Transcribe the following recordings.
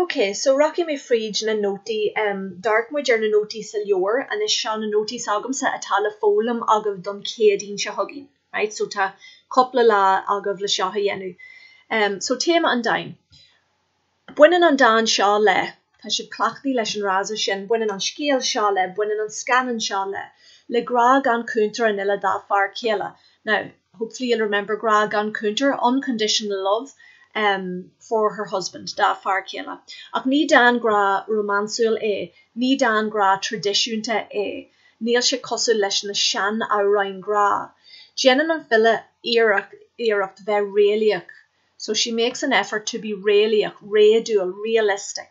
Ok, so rachaidh mé fríd na nótaí. D'amharc muid ar na nótaí sa leabhar anois. Seo na nótaí s'agamsa atá le foghlaim agaibh don Chéadaoin seo chugainn. Right, so tá cúpla lá agaibh le seo a dhéanamh. So téama an dáin. Baineann an dán seo le. Tá sibh cleachtaí leis an fhrása sin, baineann an scéal seo le, baineann an scannán seo le. le grá gan chúntar an fhile dá fear céile. Now, hopefully you'll remember grá gan chúntar, unconditional love, em, for her husband, dá fear céile. Ach ní dán grá rómánsúil é, ní dán grá traidisiúnta é. Níl sé cosúil leis na seanamhráin grá. Déanann an file iarracht bheith réalaíoch, so she makes an effort to be réalaíoch, réadúil, realistic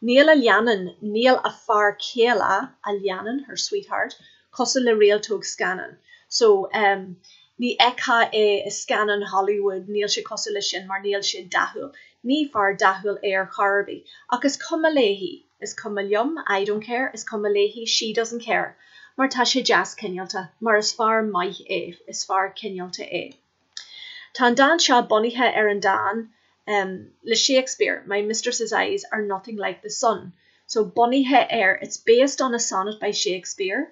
níl a leannán, níl a fear céile a leannán, her sweetheart cosúil le réaltóg scannán, so um ní fheictheá é i scannáin Hollywood, níl sé cosúil leis sin mar níl sé dathúil, ní fear dathúil é ar chor ar bith, ach is cuma léi, is cuma liom, I don't care is cuma léi, she doesn't care mar tá sé deas cineálta, mar is fear maith é, is fear cineálta é. Tá an dán seo bunaithe ar an dán em le Shakespeare, My Mistress' Eyes are Nothing Like the Sun. So bunaithe ar, it's based on a sonnet by Shakespeare,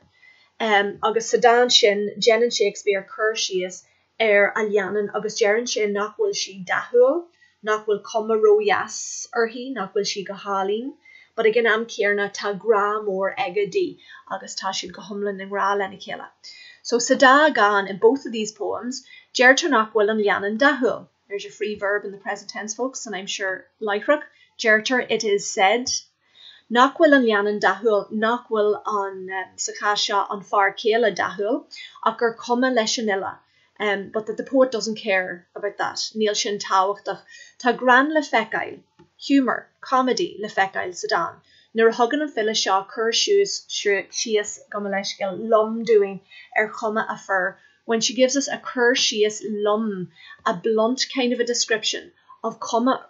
em agus sa dán sin déanann Shakespeare cur síos ar a leannán agus deireann sé nach bhfuil sí dathúil nach bhfuil cuma ródheas uirthi, nach bhfuil sí go hálainn, but ag an am céanna tá grá mór aige di agus tá siad go hiomlán i ngrá lena chéile. So sa dá dhán, in both of these poems, deirtear nach bhfuil an leannán dathúil, there's your free verb in the present tense folks an aimsir láithreach, deirtear it is said Nach bhfuil an leannán dathúil, nach bhfuil an, sa chás seo, an fear céile dathúil, ach gur cuma leis an fhile, but that the poet doesn't care about that, níl sin tábhachtach. Tá greann le feiceáil, humour, comedy, le feiceáil sa dán, nuair a thugann an file seo cur síos, gabh mo leithscéal, lom dúinn ar chuma a fir, when she gives us a cur síos lom, a blunt kind of a description, of chuma a fir.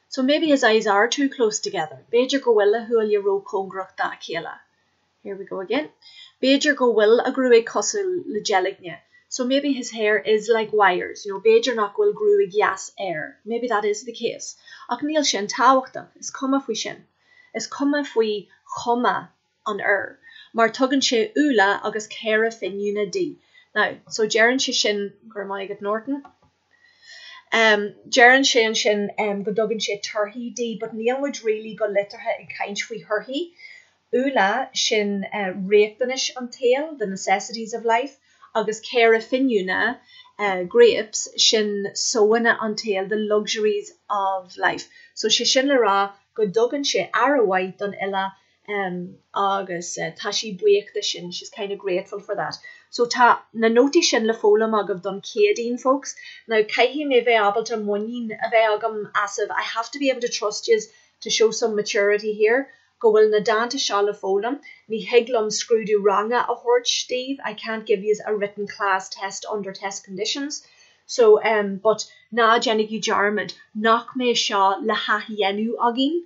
So maybe his eyes are too close together, b'fhéidir go bhfuil a shúile róchóngarach dá chéile. Here we go again. B'fhéidir go bhfuil a ghruaig cosúil le deilgní. So maybe his hair is like wires, you know, b'fhéidir nach bhfuil gruaig dheas air, maybe that is the case. Ach níl sin tábhachtach, is cuma faoi sin. Is cuma faoi chuma an fhir, mar tugann sé úlla agus caora finiúna di. Now, so deireann sé sin, go raibh maith agat Norton. Deireann sé ansin go dtugann sé torthaí di, but níl muid really go liteartha ag caint faoi thorthaí. Úlla, sin riachtanais an tsaoil, the necessities of life, agus caora finiúna, grapes, sin sóanna an tsaoil, the luxuries of life. So sé sin le rá go dtugann sé aire mhaith don fhile em agus tá sí buíoch de sin, she's kind of grateful for that. So tá na nótaí sin le foghlaim agaibh don Chéadaoin folks. Now caithfidh mé bheith ábalta muinín a bheith agam asaibh, I have to be able to trust yous to show some maturity here, go bhfuil na dánta seo le foghlaim. Ní thig liom scrúdú ranga a thabhairt daoibh, I can't give yous a written class test under test conditions. So em but ná déanaigí dearmad nach mbeidh seo le hathdhéanamh againn